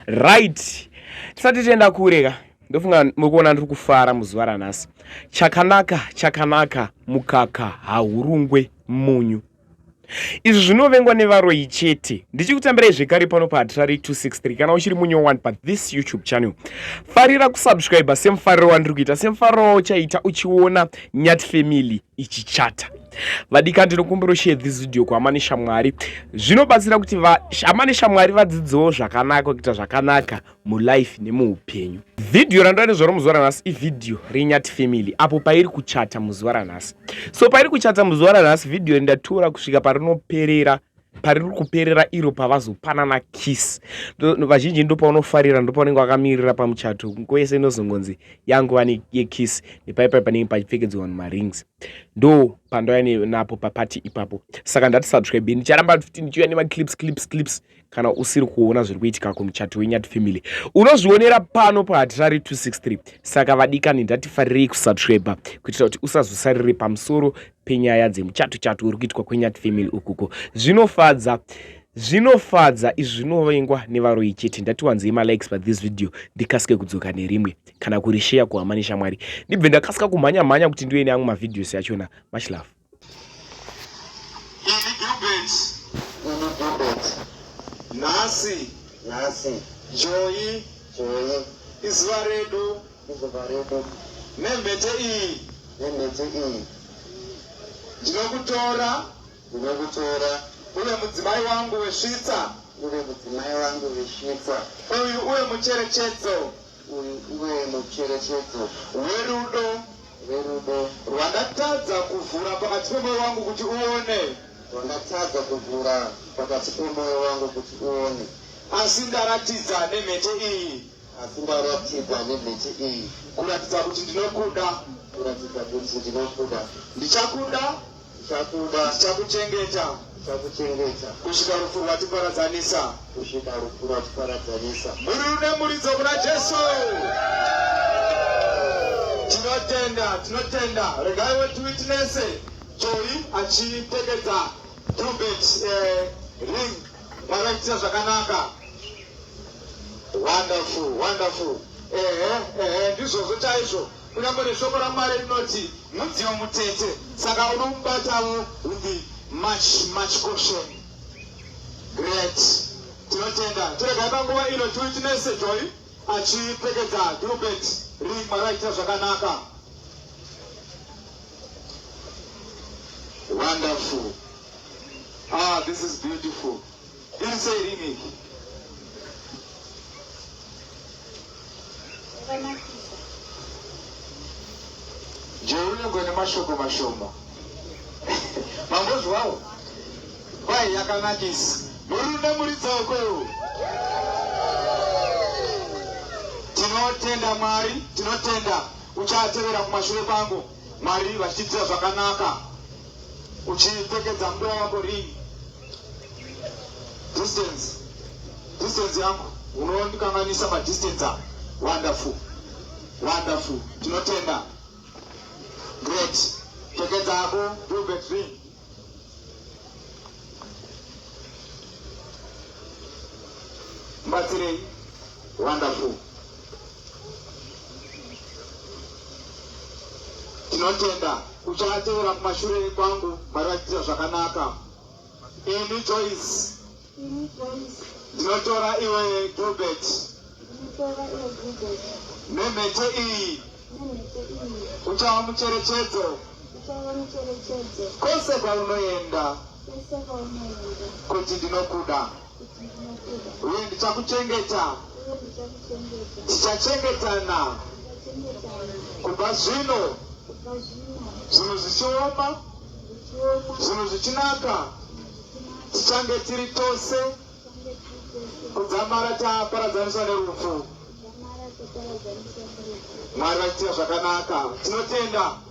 right tisati tienda kure ka ndofunga muri kuona ndiri kufara muzuva ranhasi chakanaka chakanaka mukaka haurungwe munyu izvi zvinovengwa nevaroyi chete ndichikutambirai zvekare pano pahatirari 263 kana uchiri munyowani pathis youtube channel farira kusubscribe semufariro wandiri kuita semufariro wauchaita uchiona nyat family ichichata vadika ndinokumbira ushare this video kuhama neshamwari zvinobatsira kuti hama neshamwari vadzidzewo zvakanaka kuita zvakanaka mulife nemuupenyu vhidhiyo randoa nezvaro muzuva ranhasi ivhidhiyo renyati family apo pairi kuchata muzuva ranhasi so pairi kuchata muzuva ranhasi vhidhiyo rindatura kusvika parinoperera pariri kuperera iro pavazopanana kiss vazhinji ndopaunofarira ndopaunenge wakamirira pamuchato nguva yese inozongonzi yanguva yekiss nepaipai panenge pachipfekedzwa vanhu marings ndo pandauya napo papati ipapo saka ndati subscribe ndicharamba kuti ndichiuya nemaclips clips clips kana usiri kuona zviri kuitika kumuchato wenyati family unozvionera pano pahatirari 263 saka vadikani ndatifarirei kusubscribe kuitira kuti usazosarire pamusoro penyaya dzemuchato chato uri kuitwa kwenyati family ukuko zvinofadza zvinofadza izvi zvinovengwa nevaroyi chete ndatiwanzei malikes pathis video ndikasike kudzoka nerimwe kana kurisheya kuhama neshamwari ndibve ndakasika kumhanya mhanya kuti ndive neamwe mavideos yachona much love nhasi nhasi joyi joyi izuva redu Mugomba redu. Nemhete iyi. Nemhete iyi. Ndinokutora. Ndinokutora. Uve mudzimai wangu wesvitsa. Uve mudzimai wangu wesvitsa. Uyu uve mucherechedzo. Uyu uve mucherechedzo. Werudo. Werudo. Rwandatadza kuvhura pakati pemoyo wangu kuti uone. Rwandatadza kuvhura pakati pemoyo wangu kuti uone. Asi ndaratidza nemhete iyi. Asi ndaratidza nemhete iyi kuratidza kuti ndinokuda, kuratidza kuti ndinokuda. Ndichakuda, ndichakuda. Ndichakuchengeta, ndichakuchengeta. Kusvika rufu rwatiparadzanisa, kusvika rufu rwatiparadzanisa. Mhuri rune muridzo kuna Jesu. Tinotenda, tinotenda. Regai wetu witness Joy achipfekedza trumpet eh, ring. Makaitisa zvakanaka. Wonderful, wonderful. Ehe, ehe, ndizvozvo chaizvo. Kunyange neshoko raMwari rinoti mudziyo mutete, saka unomubatawo with the much much caution. Great. Tinotenda. Tiregai panguva ino tiwitinese Joy achipfekedza Gilbert ring makaitisa zvakanaka. Wonderful. Ah, this is beautiful. Iri sei ringi? Jeunengwe nemashoko mashoma. Mambozvawo? Kwai yakanakisa. Murume muridzawo kwewo. Tinotenda Mwari, tinotenda uchatevera kumashure kwangu. Mwari vachitiitira zvakanaka. uchipfekedza mbwa yako ring distance distance yangu unondikanganisa madistance a wonderful wonderful tinotenda great pfekedza yako velvet ring mbatsirei wonderful Tinotenda uchaatevera kumashure kwangu Mwari vachiita zvakanaka. Ini Joyce ndinotora iwe Gilbert nemhete iyi uchava mucherechedzo kwese kwaunoenda kuti ndinokuda. Uye ndichakuchengeta. Tichachengetana. Kubva zvino. Zvinhu zvichioma. Zvinhu zvichinaka. Tichange tiri tose. Kudzamara taparadzaniswa nerufu. Mwari vachitira zvakanaka. Tinotenda.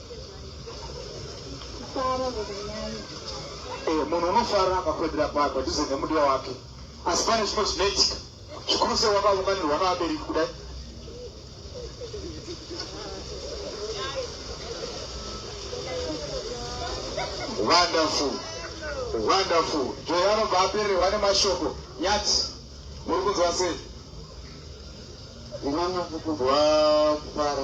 Eh, munhu unofara akakwedera padhuze nemudiwa wake asi pane zvimwe zvinoitika zvikuru sei wakaunganirwa navabereki kudai wonderful wonderful joy anobva apererwa nemashoko nyati muri kunzwa sei inonyakukudzwa kufara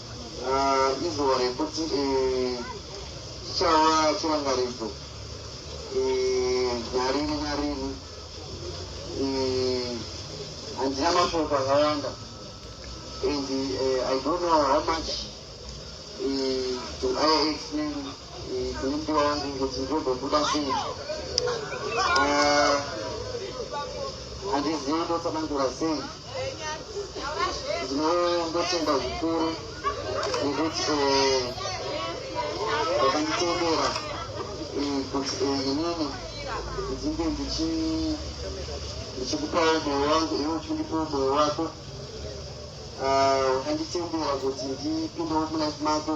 Izuva rekuti chichava chirangaridzo narini narini. Handina mashoko akawanda and I don't know how much do I explain Ndopiwa hangu ngozi ndogobuda sei? Handizivi ndotsanangura sei. Ndinotenda zvikuru nekuti vakanditendera kuti inini ndinge ndichikupawo moyo wangu iwe uchindipawo moyo wako. Vakanditendera kuti ndipindewo mulife mako.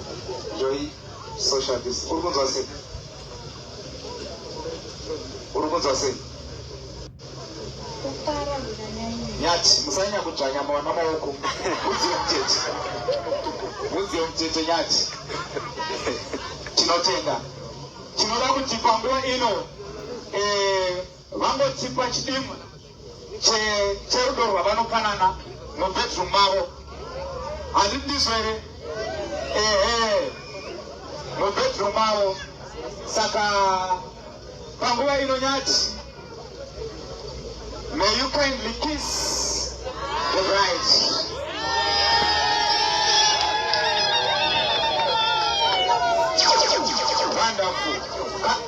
Joy social dis uri kunzwa sei uri kunzwa sei nyati musanyanya kudzvanya mwana maoko mudziyo mutete mudziyo mutete nyati tinotenda tinoda kuti panguva ino eh, Vangotipa chidimbu cherudo rwavanopanana mubedroom mavo. Handindizo here? Ehe, mubedroom mavo. Saka panguva ino nyati, may you kindly kiss the bride.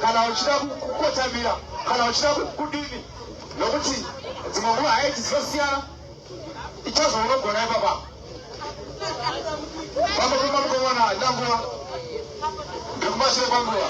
kana uchida kukotamira kana uchida kudini nokuti dzimwe nguva haiti dzinosiyana ichazvo unogona ipapa vamokuma mukomana haina nguva ndekumashure kwanguva